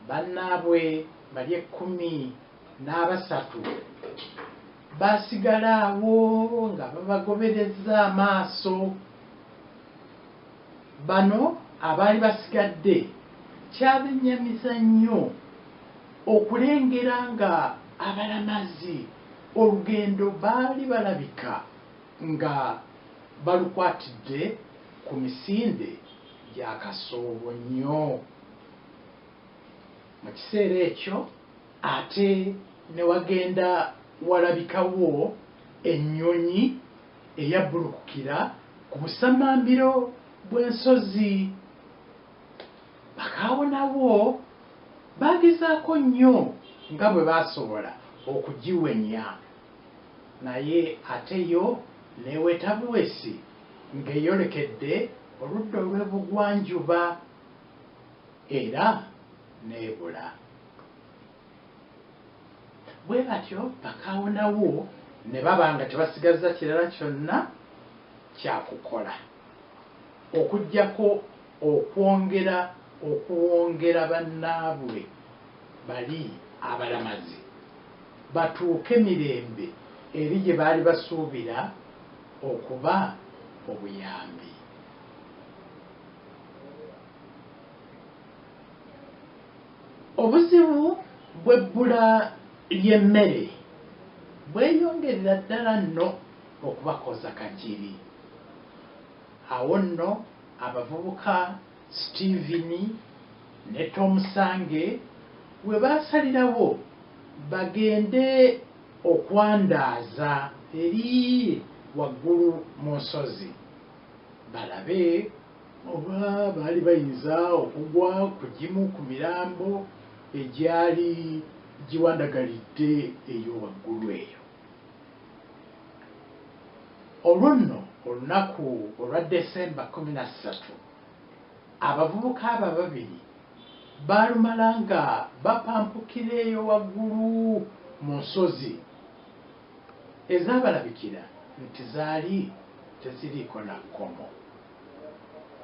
bannaabwe bali ekkumi n'abasatu baasigala awo nga babagoberezza amaaso bano abaali basigadde kyabennyamiza nnyo okulengera nga abalamazi olugendo baali balabika nga balukwatidde ku misinde gya kasoobo nnyo mu kiseera ekyo ate ne wagenda walabikawo ennyonyi eyabbulukukira ku busammambiro bw'ensozi Bakaawo nabo baagezaako nnyo nga bwe baasobola okugiwenya. Naye ate yo neweta buwesi ngeyolekedde oludda olwebugwanjuba era nebula. Bwebatyo bakaawonawo nebaba nga tebasigazza kirala kyonna kyakukola okujjako okwongera okuwongera banaabwe bali abalamazi. batuuke mirembe eri gye baali basuubira okuba obuyambi. Obuzibu bw'ebbula ly'emmere bweyongerera ddala nno okubakooza kagiri. Awo nno abavubuka. Steven ne Tomusange we baasalirawo bagende okwandaaza eri waggulu mu nsozi balabe oba baali bayinza okugwa ku gimu ku mirambo egyali giwandagalidde eyo waggulu eyo. Olwo nno olunaku olwa December kkumi na ssatu, Abavubuka abo ababiri baalumala nga bapampukira eyo waggulu mu nsozi ezaabalabikira nti zaali teziriiko na kkomo.